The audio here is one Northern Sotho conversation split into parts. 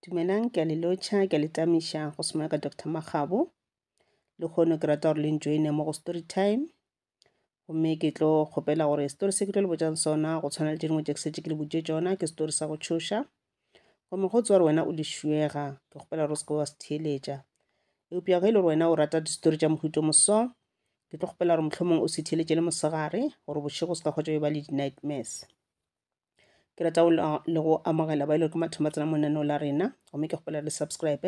Dumelang, ke a le lotšha, ke a le tamiša go swana ka Doctor Makgabo. Lekgono ke rata gore le njoine mo go story time. Gomme ke tlo kgopela gore story se ke tlo le botšang sona go tshwana le tše dingwe tše ke setse ke le botše tšona ke story sa go tšhoša. Gomme go tswa gore wena o lešuega, ke kgopela gore o seke wa se theeletša. Eupša ge e le gore wena o rata distory tša mohuto moso, ke tlo kgopela gore mohlomong o se theeletše le mosegare gore bošego se ka kgotša ba le di-nightmares. ke rata go le go amogela ba e le gore ke mathomo a tsena mo lenaneo la rena gomme ke kgopela le subscribe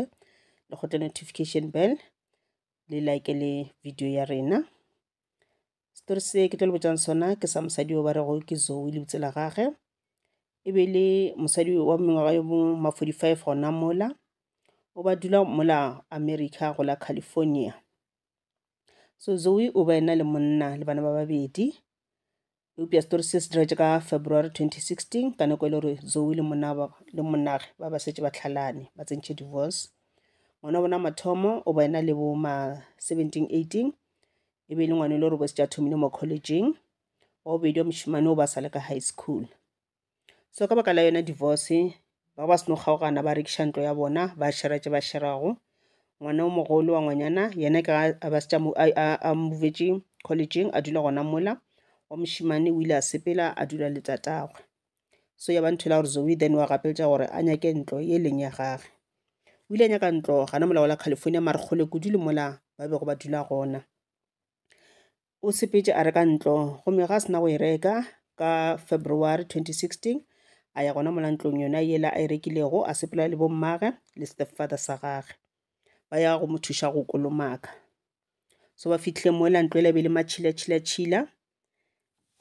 le kgotle notification bell le like le video ya rena setori se ke tlo le botšang sona ke sa mosadi yo ba rego ke zoe le bitsela gage e be le mosadi wa mengwaga yo bo ma 45 gona mola o ba dula mola america go la california so zoe o ba ena le monna le bana ba babedi eupša setori se se diretše ka february 2016 ka nako e le gore zoe le monaba le monage ba ba setse ba tlhalane ba tsentšhe divorce ngwana wa bona mathomo o ba ena le bo ma 17 18 e be e le ngwana e le gore bo setse a thomile mo collegeng wa bobedi wa mošimane o ba sa le ka high school so ka baka la yona divorce ba ba seno kgaogana ba rekiša ntlo ya bona ba shera tše ba sherago ngwana o mogolo wa ngwanyana yena ke a ba setša a mmovetše collegeng a dula gona mola wa mošemane o ile a sepela a dula le tatagwe so ya ba ntho la gore zoe then wa gapeletša gore a nyake ntlo e leng ya gage o ile a nyaka ntlo gana molao la california mare kgole kudu le mola ba bego ba dula gona o sepetše a reka ntlo gomme ga a sena go e reka ka February 2016 a ya gona mola ntlong yona yela a e rekilego a sepela le bommage le stepfather sa gage ba ya go mo thuša go kolomaka so ba fitlhile mo ela ntlo ela be le matšhila tšhila tšhila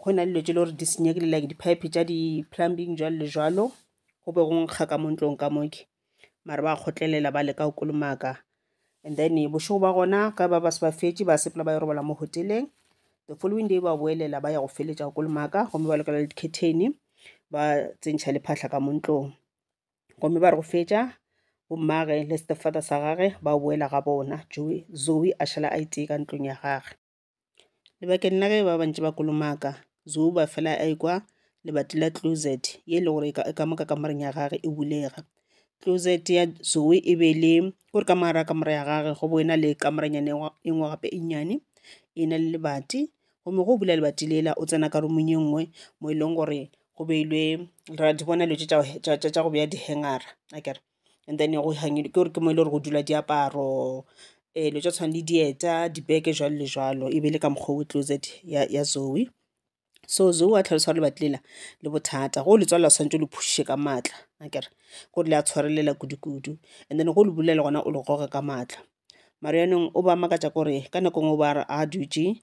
go na le dilo tse le gore di senyegile like di-pipe tša di-plumbing jalo le jalo go be go nkga ka mo ntlong ka moke mara ba kgotlelela ba leka go kolomaka and then bošego ba gona ge ba ba se ba fetše ba sepela ba yo robala mo hoteleng the following day ba boelela ba ya go feletša go kolomaka gomme ba lokela le dikheteni ba tsentšha le phahla ka mo ntlong gomme ba re go fetša bommage le stepfather sa gage ba boela ga bona zoe a šala a itee ka ntlong ya gage Lebakeng la ge ba bantši ba kolomaka, Zouba fela a ekwa lebati la klozet ye e lego gore e ka mo ka kamoreng ya gagwe e bulega. Klozet ya Zoe e be e le kore ka mo gare ga kamore ya gagwe go bo e na le kamoranyana e nngwe gape e nnyane e na le lebati. Gomme ge o bula lebati lela, o tsena ka roomong e nngwe mo e leng gore go beilwe, ra di bona dilo tše tša go beya di-hanger-a akere. and then go ke gore ke mo e le gore go dula diaparo dilo tša go tshwana le dieta dibeke jwalo le jwalo e be e le ka mokgwa o closet ya ya Zoe. So Zoe wa tlhalosa gore lebati lela le bothata go le tswalela swantse o le phušushe ka matla akere gore le a tshwarelela kudu kudu and then go le bulela gona o le goge ka matla mara yanong o ba makatša gore ka nako e nngwe o ba a re a dutše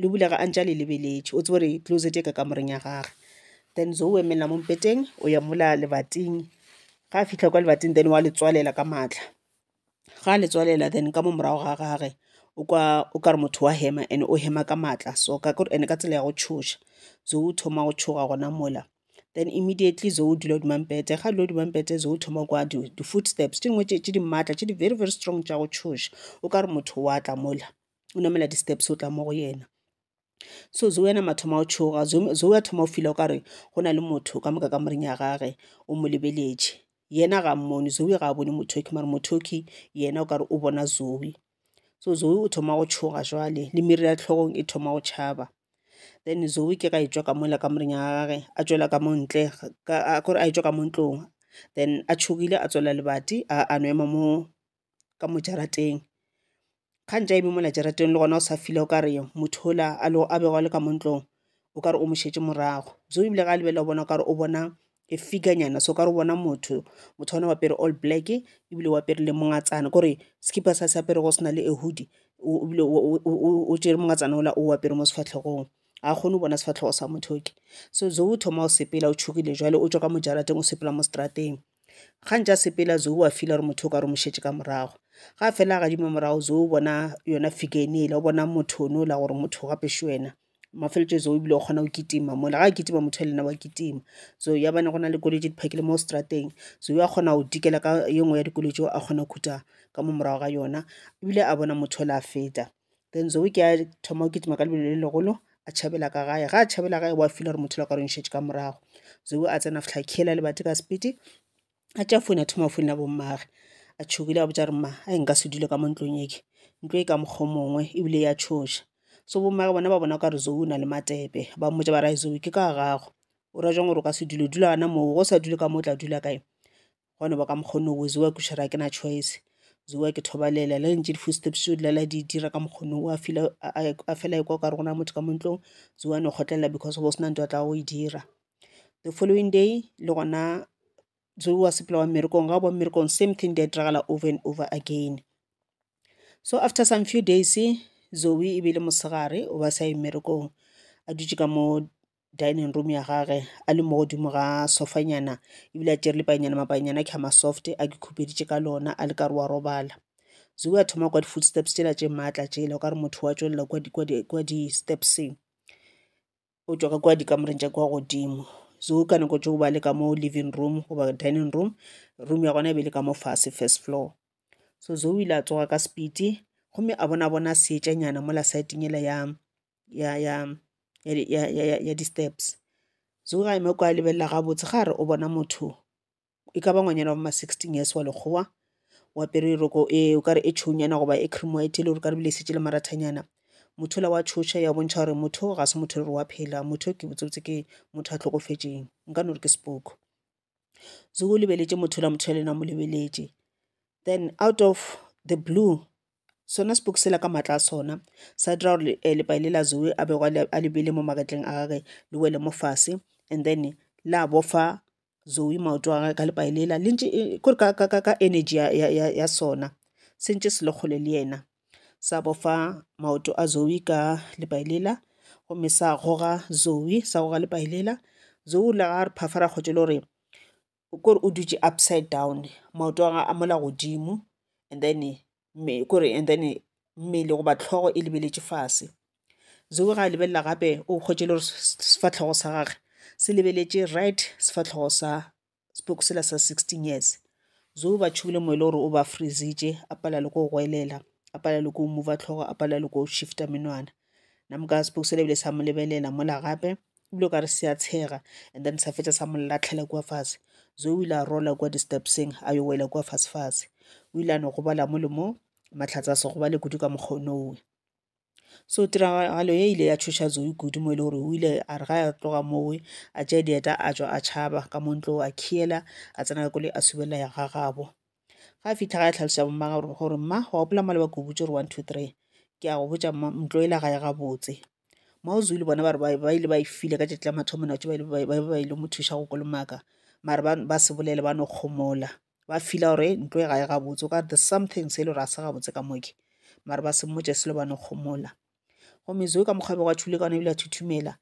le bulega a ntše a le lebeletše o tsebe gore closet e ka kamoreng ya gage then Zoe o emelela mo mpeteng o ya mola lebating ga a fitlha kwa lebating then wa le tswalela ka maatla ga a le tswalela then ka mo morago ga gage o kwa o kare motho wa hema and o hema ka maatla so ka gore ene ka tsela ya go tšhoša Zoe o thoma go tšhoga gona mola then immediately Zoe o dula hodima mpete ga a dula hodima mpete Zoe o thoma kwa di-footsteps tše dingwe tše di maatla tše di very very strong tša go tšhoša o kare motho wa tla mola o namela di-steps o tla mo go yena so zoe ena mathomo a tšhoga zoe a thoma o fila o kare go na le motho ka moka ka moring ya gage o mo lebeletše yena ga mmone zoe ga a bone mothoki mare mothoki yena o kare o bona zoe so zoe o thoma go tšhoga jwale le miri ya tlhogong e thoma go tšhaba then zoe ke ga e tswa ka mola ka moring ya gage a tswela ka montle kore a e tswa ka mo ntlong then a tšhogile a tswela lebati a no ema mo ka mo jarateng ga ntša eme mola jarateng le gona o sa feel-a o ka re motho ola a lo a bego a le ka mo ntlong o ka re o mo šetše morago so ebile ga a lebelela o bona o ka re o bona a figure nyana so o ka re o bona motho motho ona o apere all black ebile o apere le mongatsana kore sekipa se a se aperego se na le a hoodie o ebile o tšere mongatsana ola o apere mo sefahlehong ga a kgone go bona sefahlego sa motho yo ke so o thoma go sepela o tšhogile jwale o tšwa ka mo jarateng o sepela mo seterateng. ga ntša sepela zo wa feel gore motho o ka re mo šetše ka morago ga fela gadimo morago zo o bona yona figure e ne e la o bona motho o ne o la gore motho gape še wena mafeletšo zo ebile o kgona go kitima mola ga kitima motho le nna wa kitima so ya bane go na le koloi tše di phakile mo strateng so wa kgona go dikela ka ye nngwe ya dikoloi tšeo a kgona go khuta ka mo morago ga yona ebile a bona motho o le a feta Then Zoe ke a thoma o kitima ka lebelo le legolo a tšhabela ka gae ga a tšhabela gae wa fila gore motho la ka re ntšhetše ka morago Zoe a tsena fitlha khiela le bate ka sepiti a tša foune a thoma foune ya bommage a tšhogile a botša re ma a e nka se dule ka mo ntlong eke ntlo e ka mokgwa mongwe ebile ya tšhoša so bommage bona ba bona ka re Zoe o na le matepe ba mmotša ba ra Zoe ke ka gago o ra jang gore o ka se dule dula gana moo go sa dule ka mo o tla dula kae gone ba ka mokgwa ono o zewa ke šera ke na choice zewa ke thobalela le ntše di-footsteps o dlala di dira ka mokgwa ono a feel a fela ekwa o ka re gona motho ka mo ntlong zewa no kgotlelela because go sena ntho a tla go e dira the following day le gona zewa sepela wa mmerekong ga o ba mmerekong same thing di a diragala over and over again so after some few days zoe e be le mosegare o ba sa ye mmerekong a dutše ka mo dining room ya gage a le mo godimo ga sofanyana ebile a tšere lepaenyana mapaenyana a khama soft a ke khupeditše ka lona a le ka re wa robala zewe a thoma kwa di-footsteps tšela tše maatla tšela o ka re motho wa tšwelela kwa di-stepseng o tšwa ka kwa dikamoreng tša kwa godimo zewe ka nako tšeo ba le ka mo living room goba dining room room ya gona e be le ka mo fase first floor so zewe o ile a tsoga ka sepiti gomme a bona bona seetšanyana mola saeteng ela ya ya ya ya ya ya ya ya di-steps so ga ema kwa lebelela gabotse ga re o bona motho e ka ba ngwanyana wa bo ma sixteen years wa lekgowa o apere roko e o kare e tšhounyana goba e cream white e le gore ka e šetše e le marathanyana motho yola wa tšhoša ya bontšha gore motho o ga se motho e le gore wa phela motho ke botsebotse ke motho a tlhokofetšeng nka no re ke sepoko so o lebeletše motho yola motho yola le yena a mo lebeletše then out of the blue Sona sepoki sela ka maatla a sona sa dira gore eh, lepai le la zoe a bego a le beile mo magetleng a gage le wele mo fase and then la bofa zoe maoto a gage ka lepai lela le ntše eh, kore ka, ka, ka, ka energy ya, ya, ya, ya sona se ntše se le kgole le yena sa bofa maoto a zoe ka lepai lela gomme sa goga zoe sa goga lepai lela zoe o lega re phafara kgotse le gore kore o dutše upside down maoto a gagwe a mola godimo and then kore and then mmele goba hlogo e lebeletše fase. Zoe ga a lebelela gape o hwetše e le gore sefahlego sa gagwe se lebeletše right sefahlego sa sepoko sela sa sixteen years. Zoe ba tšhogile moya e le gore o ba freeze-itše a palelwa le ke go goelela a palelwa le ke go move-a hlogo a palelwa le ke go shift-a menwana. Nna mo ka sepoko sela ebile sa mo lebelela mola gape ebile o kare se a tshega and then sa fetša sa mo latlhela kua fase zo o ile a rola kua di-stepseng a yo wela kua fase fase o ile a no gobala mo le mo mahlatse a se gobale kudu ka mokgwa onowe so tiragalo e ile ya tšhoša zoe kudu mo e le gore o ile a re ga a tloga mowe a tšea dieta a tšwa a tšhaba ka mo ntlo a khiela a tsena ka kole a subelela ya gagabo ga fitlha ga e tlhalosa bomma gore gore mma wa gopola mma le ba kubutse gore one two three ke a go botsa mma ntlo e la gae gabotse mma o zulu bona bare ba ile ba e file ka tšatši la mathomo natso ba ile mo thuša go kolomaka mare ba se bolele ba no kgomola ba fila gore ntlo e gae gabotse o ka the something se e le gore a se gabotse ka moke mare ba se mmotse selo ba no kgomola gomme zo ka mokgwa bego a thule ka one ebile a thuthumela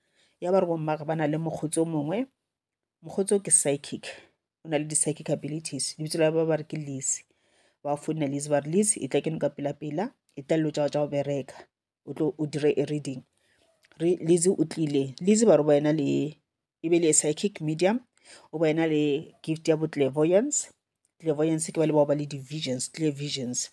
ya ba re bomma ba na le mokgotsi o mongwe mokgotsi o ke psychic o na le di-psychic abilities lebitso la ba ba re ke lise ba founela lise ba re lise e tla keno ka pela pela e tla dilo tsa go tsa go bereka o tlo o dire e reading re lise o tlile lise ba re wena le e be le psychic medium o wena le gift ya bo clairvoyance clairvoyance ke ba le bao ba le di-visions clear visions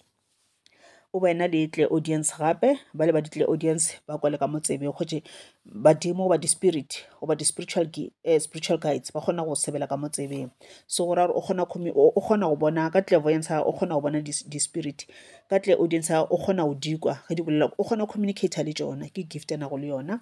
o ba ena le tle audience gape ba le ba ditle audience ba kwa le ka motsebe gotše badimo goba di-spirit goba di-spiritual eh, spiritual guides ba kgona go sebela ka motsebeng so go ra gore o kgona o kgona go bona ka clairvoyance o kgona go bona di-spirit ka tle audience o kgona go dikwa ge di bolela o kgona communicator le tšona ke gift ya nago le yona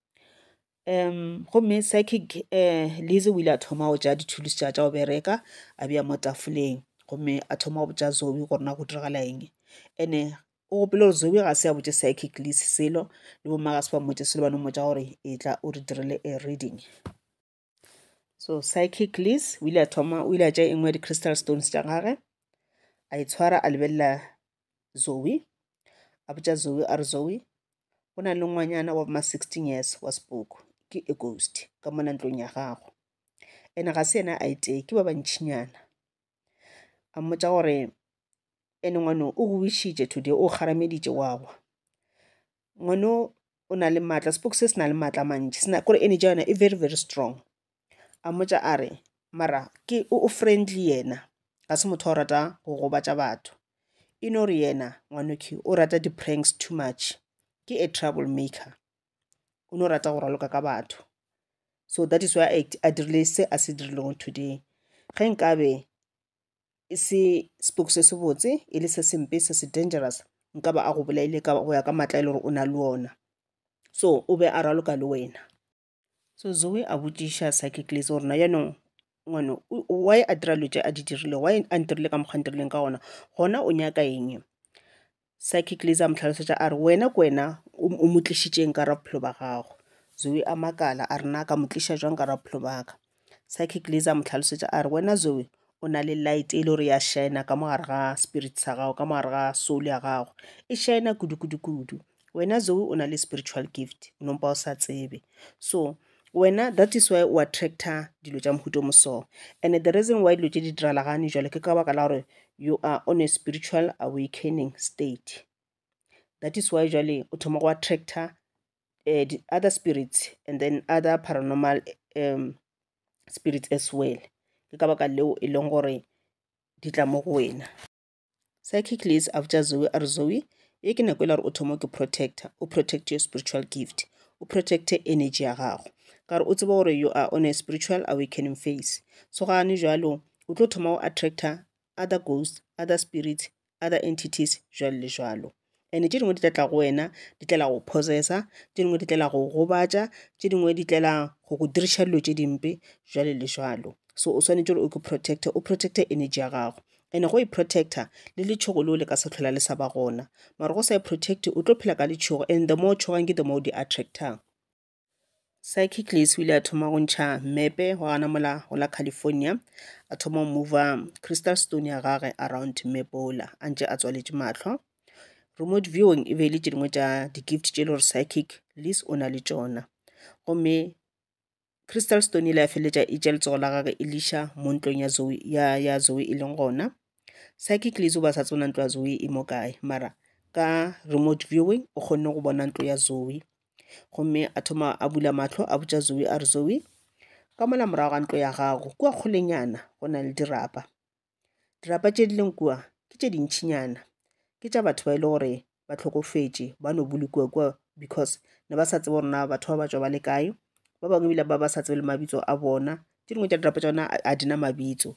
um gomme psychic um lise o ile a thoma go ja dithulusi tša tša go bereka a bja mo tafoleng gomme a thoma go botša zoe gore na go diragala eng ene o gopele gore zoe ga se a botse psychic lise selo le bomma ga se ba mmotse selo ba no mmotsa gore e tla o re direle a reading so psychic liz o ile a thoma o ile a tša e nngwe ya di-crystal stones tša gage a e tshwara a lebelela zoe a botša zoe a re zoe go na le ngwanyana wa ma 16 years wa spook ke a ghost ka mona ntlong ya gago ene ga se yena a itee ke ba bantšhinyana a mmotša gore ene ngwane o go wishitše today o kgarameditše wa gwa ngwano o na le maatla sepoko se se na le maatla a mantši sena kore energy ya yona e very very strong a mmotša a re mara ke o friendly yena ga se motho o rata go gobatša batho e no re yena ngwanoki o rata di-pranks too much ke a trouble maker o no rata go raloka ka batho so that is why a dirile se a se dirilego today ge nkabe e se spook se sebotse e le se sempe se se dangerous nka ba a go bolaile ka go ya ka matla e le gore o na le ona so o be a raloka le wena so zoe a botšiša psychiclis gore na yaanong ngwane why a dira lo tse a di dirile why a ntirile ka mokgwa ntirileng ka ona gona o nyaka eng Psychic Liz a mo hlalosetša a re, Wena ke wena o o mo tlišitšeng ka ra bophelo ba gago. Zoe a makala a re, Na ka mo tliša jwang ka ra bophelo ba ka? Psychic Liz a mo hlalosetša a re, Wena Zoe o na le light e le gore ya shaena ka mo gare ga spirit sa gago, ka mo gare ga soul ya gago. E shaena kudu-kudu-kudu. Wena Zoe o na le spiritual gift, o nompa o sa tsebe. So, Wena that is why o attractor dilo tša mohuto mo so and the reason why dilo tše di diralagane jalo ke ka baka la gore you are on a spiritual awakening state that is why jale o thoma go attractor uh, the other spirits and then other paranormal um, spirits as well ke ka baka leo e leng gore di tla mo go wena Cyclicles Avja Zoe a re Zoe, ye ke nako e la gore o thoma ke protector, o protect your spiritual gift, o protect energy ya gago. Ka gore o tseba gore you are on a spiritual awakening phase. So gane jalo, o tlo thoma go attractor other ghosts, other spirits, other entities, jwalo le jwalo. And-e tše dingwe di tla tla go wena di tlela go possessor, tše dingwe di tlela go go gobatša, tše dingwe di tlela go go diriša dilo tše dimpe jwalo le jwalo. So o swanetše gore o ke protect-e, o protect-e energy ya gago. And-e go e protect-a le letšhogo leo le ka se tlhola le sa ba gona. Mara ge o sa e protect-e o tlo phela ka letšhogo and the more o tšhogang ke the more o di attractang. Sykicles o ile a thoma go ntšha mmepe wa gana mola go la California, a thoma go mova crystal stone ya gage around mmepe ola a ntše a tswaletše mahlo. Remote viewing e be e le tše dingwe tša di-gift tše e le gore psychic Liz o na le tšona gomme crystal stone ile ya feleletša e tša letsogo la gage e liša mo ntlong ya zoe ya, ya zoe e leng gona psychic Liz o ba sa tsona ntlo ya zoe e mo kae mara ka remote viewing o kgonne go bona ntlo ya zoe Gomme a thoma a bula mahlo a botša Zoe a re, Zoe, ka mola morago ga ntlo ya gago kua kgolenyana go na le dirapa. Dirapa tše di leng kua ke tše dintšhinyana, ke tša batho ba e le gore ba hlokofetše ba no bolokiwa kua because ne ba sa tsebe gore na batho ba ba tšwa ba le kae, ba bangwe ebile ba ba sa tsebe le mabitso a bona. Tše dingwe tša dirapa tša bona ga di na mabitso.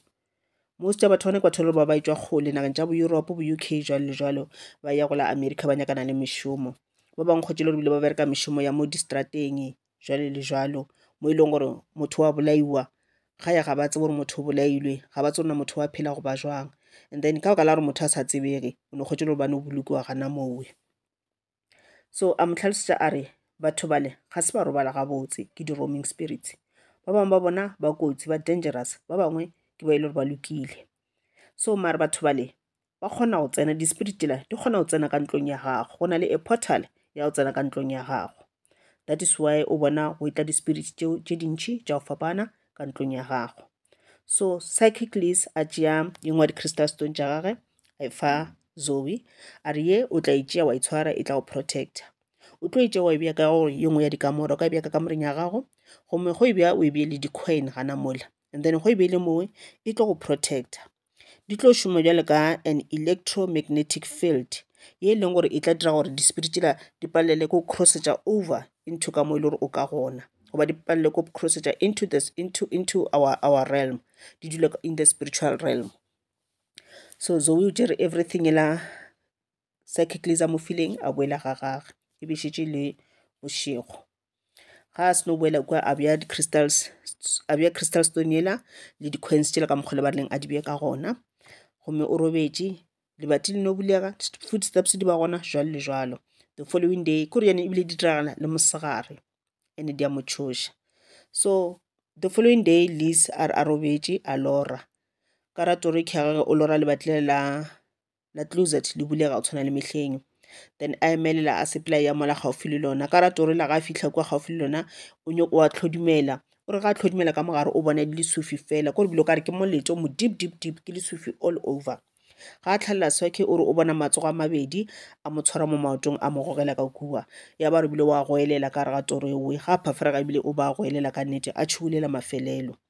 Most ya batho ba nekwa tholo ba ba etšwa kgole nageng tša bo Europe, bo UK jwalo le jwalo ba ya go la America ba nyakana le mešomo. Ba bangwe kgotše le gore bile ba bereka mešomo ya mo distrateng jwalo le jwalo mo e leng gore motho wa bolaiwa ga ya ga ba tsebe gore motho o bolailwe ga ba tsebe gore motho wa phela goba jwang. And then ka baka la gore motho a sa tsebege o no kgotše le gore ba no bolokiwa gana mowe. so a mo tlhalosetša a re batho bale ga se ba robala gabotse ke di-roaming spirits ba bangwe ba bona ba kotsi ba dangerous ba bangwe ke ba e le gore ba lokile so mare batho bale ba kgona go tsena di-spirit tela di kgona go tsena ka ntlong ya gago go na le a portal ya go tsena ka ntlong ya gago that is why o bona go e tla di-spirit tše dintšhi tša go fapana ka ntlong ya gago so psychic liz a tšea e nngwe ya di-crystal stone tša gage a e fa zoe a re ye o tla e tšea wa e tshwara e tla go protector o tlo e tšea wa e bea ka gore ye nngwe ya dikamore o ka e bea ka kamoreng ya gago gomme go e bja o e bee le di-coin gana mola and then go e bee le mowe e tlo go protector Di tlo šoma bjalo ka an electromagnetic field ye e leng gore e tla dira gore di spirit tšela di palelwe ke go crossetša over into ka mo e le gore o ka gona goba di palelwe ke go crossetša into this into into our our realm di dule in the spiritual realm. So Zoe o tšere everything e la Secondly, za mo fileng a boela ga gage e be šetše le bošego ga a seno boela kwa a bja di-crystals a bja crystal stone yela le di-coins tšela ka mokgole ba rileng a di bje ka gona gomme o robetše lebati le no bulega footsteps di ba gona jwalo le jwalo the following day ko re yane ebile di diragala le mosegare ene di a mo tšhoša so the following day lease a re a robetše a lora ka ratore ke gage o lora lebati le la la closet le bulega go tshwana le mehleng then a emelela a supply ya mola gaufi le lona ka rata gore la ga a fitlha kwa gaufi le lona o nyoko wa tlhodumela o re ga a tlhodumela ka mogare o bona e le lesufi fela ko re bilo ka re ke moleto mo deep deep deep ke lesufi all over ga a tlhalela swake o re o bona matsogo a mabedi a mo tshwara mo maotong a mo gogela ka kua ya ba re bile wa goelela ka re ga toro eoe ga a phaferega ebile o ba goelela ka nnete a tšhugulela mafelelo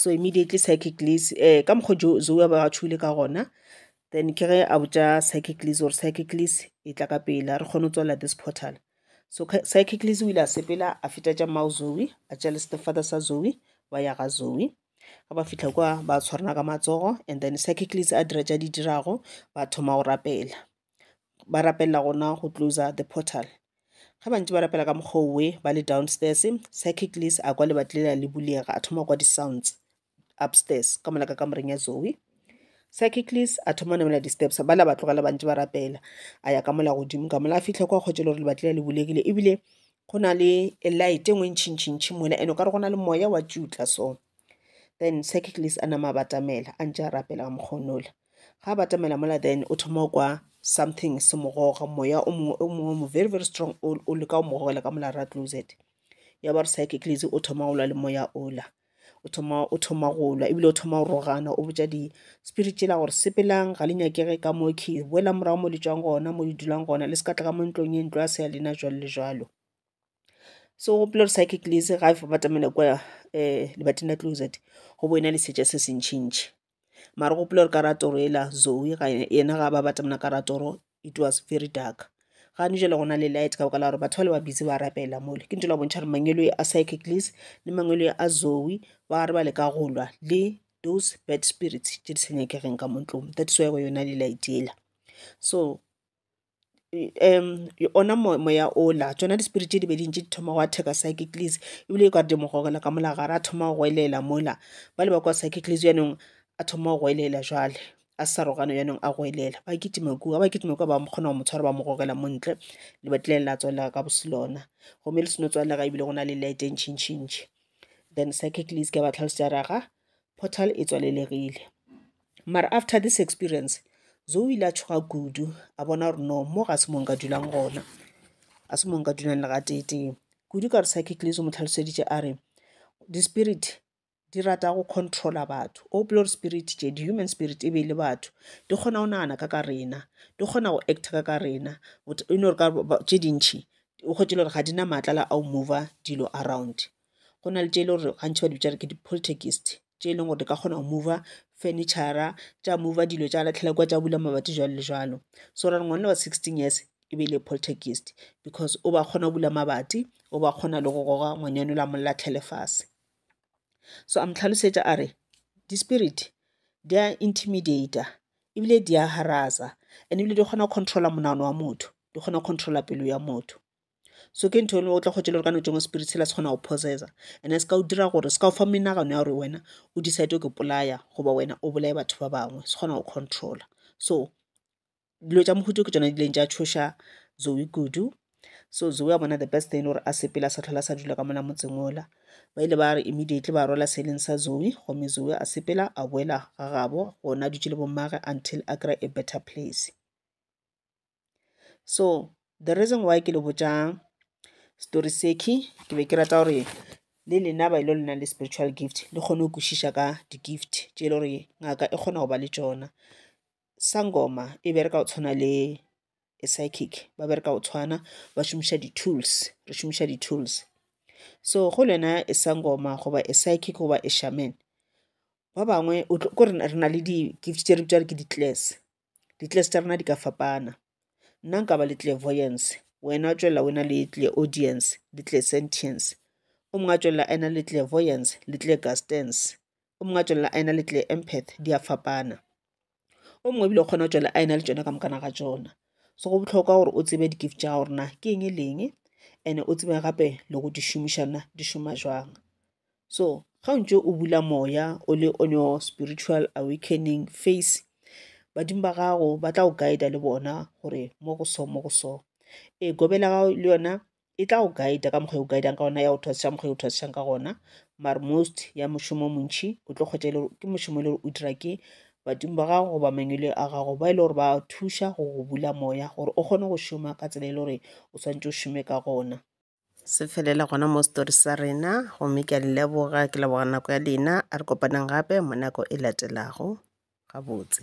So immediately psychic Liz um ka mokgwa o Zoe a bego a tšhoile ka gona then ke ge a botša psychic Liz gore psychic Liz e tla ka pela re kgone go tswalela this portal. So psychic Liz o ile a sepela a feta tša mmao Zoe a tša le stepfather sa Zoe ba ya ga Zoe. Ge ba fitlha kwa ba tshwarana ka matsogo and then psychic Liz a dira tša di dirago ba thoma go rapela. ba rapella gona go closer the portal ge ba ntse ba rapela ka mokgwa owe ba le down stairs a kwa lebati lela le bulega a thoma go kwa di-sounds upstairs ka mola ka kamoreng ya Zoe a thoma namela di-steps bale a ba tlogela ba ntse ba rapela a ya ka mola godimo ka mola a fitlha kwa kgotse e le gore lebati lela le bulegile ebile go na le light e nngwe e ntšhintšhintšhi mona and-e o ka re go na le moya wa tšutla so then secondly a nama a batamela a ntše a rapela ka mokgonola ga a batamela mola then o thoma kwa something se mogoga moya o mongwe o mongwe mo very very strong o leka o mogogela ka mola ra closet ya ba re secondly o thoma go lwa le moya ola o thoma o thoma go lwa ebile o thoma go rogana o botša di-spirit tšela gore sepelang ga le nyakege ka mo ke boela morago mo le tswang gona mo le dulang gona le se ka tla ka mo ntlong e ntlo ya se ya lena jalo le jalo so o gopola gore psychic le se ga e batamela kwa um lebating la closet go bo e na le seja se se ntšhi ntšhi mara gopola gore ka ra toro e la zoe ga yena ga ba batamela ka ra toro it was very dark ga ne jela gona le light ka baka la gore batho ba le ba busy ba rapela mole ke ntho la bontšha gore mangwelo a psychic lease le mangwelo a zoe ba re ba le ka go lwa le those bad spirits tše di sa nyakegeng ka mo ntlong that's why go yona le light ela so ona moya ola tšona di spirit tše di be di ntše di thoma gwa attack-a psychically ebile ka di mo gogela ka mola gare a thoma go goelela mola ba le ba kwa psychically bjanong a thoma go goelela jwale a sa arogane bjanong a goelela ba kitima kua ba kitima kua ba kgona go mo tshwara ba mo gogela mo ntle lebati le la tswalela ka bose lona gomme le seno tswalega ebile go na le light e ntšhi ntšhi ntšhi then psychically se ke ba tlhalosetša raga portal e tswalelegile. Mara after this experience, Zoe ile a tšhoga kudu, a bona gore no, mo ga se mo nka dulang gona. A se mo nka dulang le ga tee-tee. Kudu ka re psychic lizo mo tlhaloseditše a re, di-spirit di rata go controla batho. O gopola gore spirit tše, di-human spirit e be e le batho, di kgona go nagana ka ka rena, di kgona go acta ka ka rena. E no re ka tše dintšhi, o kgwetše le gore ga di na maatla la a go mover dilo around. go na le tše e le gore gantši ba di bitša re ke di-poltergeist tše e leng gore di ka kgona go mover furniture-ra tša mover dilo tša latlhela kwa tša bula mabati jwalo le jwalo so ra re ngwana wa sixteen years e be e le poltergeist because o ba kgona go bula mabati o ba kgona le go goga ngwanyana o la mo latlhele fase so a mo tlhalosetša a re di-spirit di a intimidater ebile di a harasa and ebile di kgona go controller monagano wa motho di kgona go controller pelo ya motho. so ke ntho eno o tla kgwetša le gore ka nako tše ngwe spirit sela se kgona go possessa and se ka o dira gore se ka o fa menagano ya gore wena o decide go ipolaya goba wena o bolaye batho ba bangwe se kgona go controller so dilo tša mohuta o ke tšona di ileng tša tšhoša Zoe kudu so Zoe wa bona the best thing e le gore a sepele a sa tlhola a sa dula ka mona motseng ola ba ile ba re immediately ba rwala seleng sa Zoe gomme Zoe a sepela a boela ga gabo gona a dutše le bommage until a kry a better place So the reason why ke le botša story seki ke be ke rata gore le lena ba ile le nang le spiritual gift le kgone go kwešiša ka di-gift tše e le gore ngaka e kgona go ba le tšona sangoma e bereka go tshwana le psychic ba bereka go tshwana ba šomiša di-tools re šomiša di-tools so go le wena e sangoma goba e psychic goba e shaman ba bangwe o tlo- ko re na- re na le di-gift tše re bitša gore ke di-class Ditlestarena di ka fapana. Nna nka ba le clairvoyance, wena wa tšwela o na le clairaudience le clairsentience. O mongwe a tšwela a na le clairvoyance le clairgustance. O mongwe a tšwela a na le clairempath, di a fapana. O mongwe ebile o kgona go tšwela a na le tšona ka mokana ga tšona. So go bohlokwa gore o tsebe di-gift tša gago gore na ke eng e le eng and-e o tsebe gape le go di šomiša na di šoma jwang. So, ga o ntse o bula moya o le on your spiritual awakening face badimo ba gago ba tla go guida le bona gore mo go so mo go so e gobela gago le yona e tla go guida ka mokgwa e o guidang ka gona ya go thwasisa mokgwa e o thwasisang ka gona mar most ya mošomo o montšhi o tlo kgwetsa e le ke mošomo e le gore o dira ke badimo ba gago goba mangwele a gago ba e le gore ba thuša go go bula moya gore o kgone go šoma ka tsela e le gore o swanetse o šome ka gona se felela gona mo story sa rena gomme ke a leboga ke leboga nako ya lena a re kopaneng gape mo nako e latelago gabotse